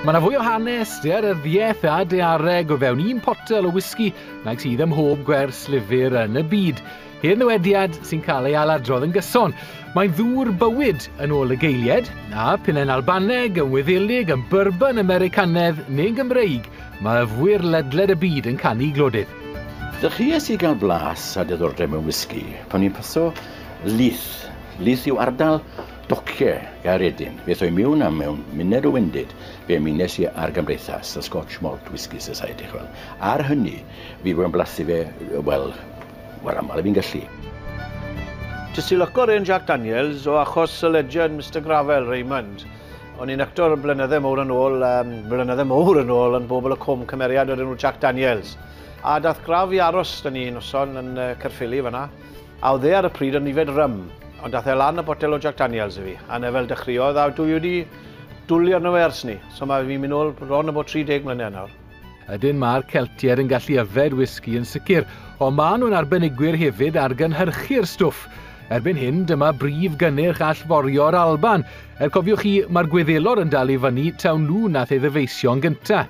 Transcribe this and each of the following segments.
Mae yna fwy o hanes, dearyddiaeth a deareg o fewn un potel o whisky nag sydd ym mhob gwers lyfr yn y byd. Hen ddywediad sy'n cael ei aladrodd yn gyson. Mae'n ddŵr bywyd yn ôl y geilied, a pinnen Albaneg yn wyddelig yn byrban Americanedd neu'n Gymreig, mae yfwyr ledled y byd yn canu glodydd. Dechreuais i gael blas a diddordeb mewn whisky pan i'n paso Leith. Leith yw ardal Docce, gair edyn, fe thoi miwn am mewn muned o wendid, fe mynes i ar gymdeithas y Scotch Malt Whisky Society, chi'n gweld. Ar hynny, fi wedi bod yn blasu fe, wel, mor aml a fi'n gallu. Jyst i lwco rên Jack Daniels, o achos y legend Mister Gravell, Raymond. O'n i'n actor blynydde mowr yn ôl, yym, blynydde mowr yn ôl, yn Bobl y Cwm, cymeriad o'r enw Jack Daniels. A dath Grav i aros 'da ni noson yn yy Caerffili fan'na. A oedd e ar y pryd yn yfed rym, ond ath e lan a botel o Jack Daniels i fi, a 'na fel dechreuodd, a dwi wedi dwli arno fe ers 'ny, so mae fi'n mynd nôl bron a bod 30 mlynedd nawr. Ydyn, mae'r Celtiaid yn gallu yfed wisgi yn sicr, ond maen nhw'n arbenigwyr hefyd ar gynhyrchu'r stwff. Erbyn hyn, dyma brif gynnyrch allforio yr Alban. Er cofiwch chi, mae'r Gwyddelod yn dal i fyny taw nhw nath ei ddyfeisio'n gynta.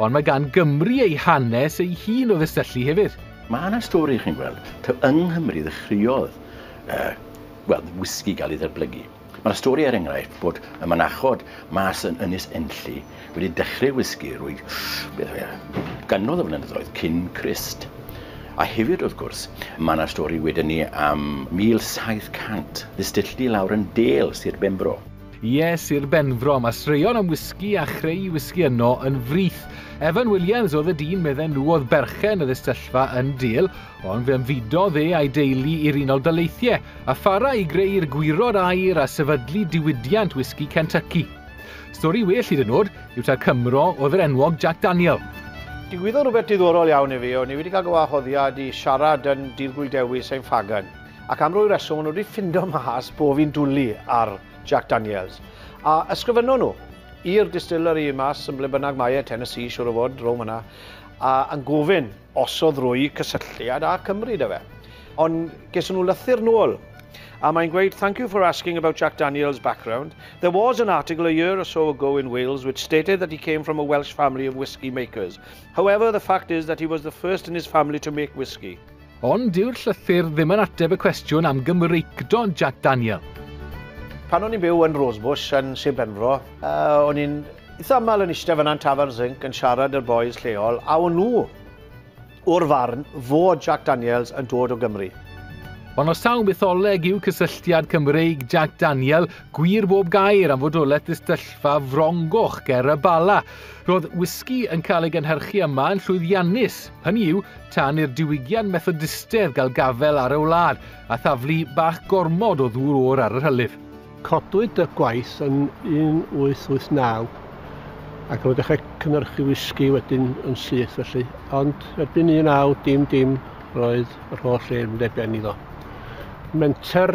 Ond mae gan Gymru ei hanes ei hun o ddisyllu hefyd. Mae 'na stori, chi'n gweld, taw yng Nghymru ddechreuodd yy wel, wisgi gael ei ddatblygu. Mae 'na stori, er enghraifft, bod y mynachod mas yn Ynys Enlli wedi dechreu wisgi rwy beth yw e, gannoedd o flynyddoedd cyn Crist. A hefyd, wrth gwrs, mae 'na stori wedyn ni am 1700, ddistylltu i lawr yn Dale, Sir Benfro. Yes i'r Benfro, mae straeon am wisgi a chreu wisgi yno yn frith. Evan Williams oedd y dyn medden nhw oedd berchen y ddistyllfa yn Dil, ond fe ymfudodd e a'i deulu i'r Unol Daleithiau, a phara i greu'r gwirod air a sefydlu diwydiant wisgi Kentucky. Stori well hyd yn oed yw ta'r Cymro oedd yr enwog Jack Daniel. Digwyddodd rhywbeth diddorol iawn i fi, o'n i wedi cael gywahoddiad i siarad yn Dydd Gwyl Dewi, Saint Faggan. Ac am rwy reswm o'n nhw wedi ffindo mas bo fi'n dwli ar Jack Daniels. A ysgrifennon nhw i'r distillery mas yn ble bynnag mae e, Tennessee siwr o fod, row myna, a yn gofyn os oedd rwy cysylltiad â Cymru da fe. Ond geson nhw lythyr nôl a mae'n gweud thank you for asking about Jack Daniels background. There was an article a year or so ago in Wales which stated that he came from a Welsh family of whisky makers. However, the fact is that he was the first in his family to make whisky. Ond dyw'r llythyr ddim yn ateb y cwestiwn am Gymreictod Jac Daniel. Pan o'n i'n byw yn Rosebush yn Sir Benfro, uh, o'n i'n eitha aml yn eistedd fyna'n Tafern Zinc yn siarad â'r boys lleol, a o'n nhw o'r farn fod Jack Daniels yn dod o Gymru. Ond os taw mytholeg yw cysylltiad Cymreig Jack Daniel, gwir bob gair am fodolaeth ddistyllfa frongoch ger y Bala. Roedd whisky yn cael ei gynhyrchu yma yn llwyddiannus. Hynny yw, tan i'r diwygiad Methodistaidd gael gafel ar y wlad, a thaflu bach gormod o ddŵr oer ar yr hylif. Codwyd y gwaith yn 1889, ac roedd dechrau cynhyrchu wisgi wedyn yn syth felly, ond erbyn 19 dim dim roedd yr holl le yn mynd ar ben iddo. Menter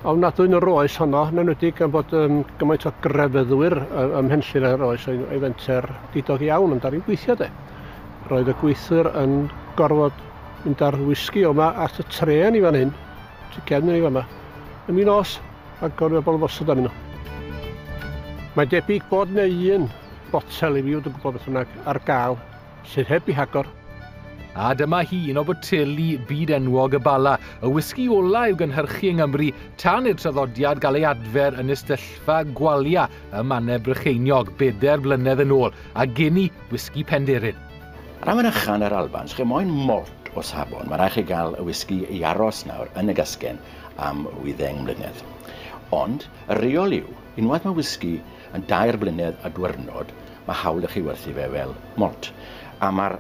ofnadwy yn yr oes honno, yn enwedig gan bod um, gymaint o grefyddwyr ym Mhenllyn ar yr oes, oedd ei fenter didog iawn, ond ar i'n gweithio de. Roedd y gweithwyr yn gorfod mynd â'r wisgi yma at y trên i fan hyn, tu cefn i ni fama. Yn mi nos, mae gorfod bobl yn gosod arnyn nhw. Mae'n debyg bod neu un botel i fi wedi gwybod beth yna ar gael sydd heb i hagor. A dyma hi, un o boteli byd enwog y Bala, y wisgi ola i'w gynhyrchu yng Nghymru tan i'r traddodiad gael ei adfer yn istellfa gwalia ym Mannau Brycheiniog bedair blynedd yn ôl, a geni Whisky Penderyn. Ar awen ychan yr Alban, sgen moyn mort o safon, mae rhaid chi gael y whisky i aros nawr yn y gasgen am wyddeng mlynedd. Ond, y reol yw, unwaith mae whisky yn dair blynedd a dwyrnod, mae hawl i chi werthu fe fel malt. A mae'r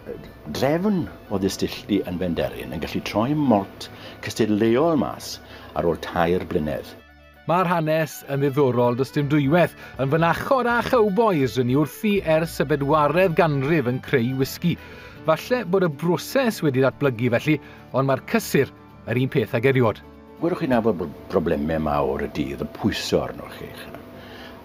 drefn o ddistylltu yn Benderyn yn gallu troi malt cystadleuol mas ar ôl tair blynedd. Mae'r hanes yn ddiddorol, does dim dwywaith. Yn fynachod â chowbois yn ei wrthi ers y bedwaredd ganrif yn creu whisky. Falle bod y broses wedi ddatblygu felly, ond mae'r cysur yr un peth ag eriod. Gwelwch chi nabod bod problemau mawr y dydd yn pwyso arnoch chi.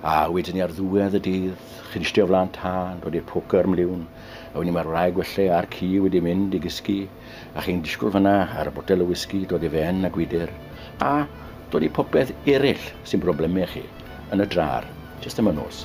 A wedyn ni ar ddiwedd y dydd, chi'n istio flan tân, dod i'r poker mliwn, a wedyn ni mae'r wraig welle a'r ci wedi mynd i gysgu. a chi'n disgwyl fanna ar y botel o wisgi dod i fe'n a gwydr, a dod i popeth eraill sy'n broblemau chi, yn y drar, jyst am y nos.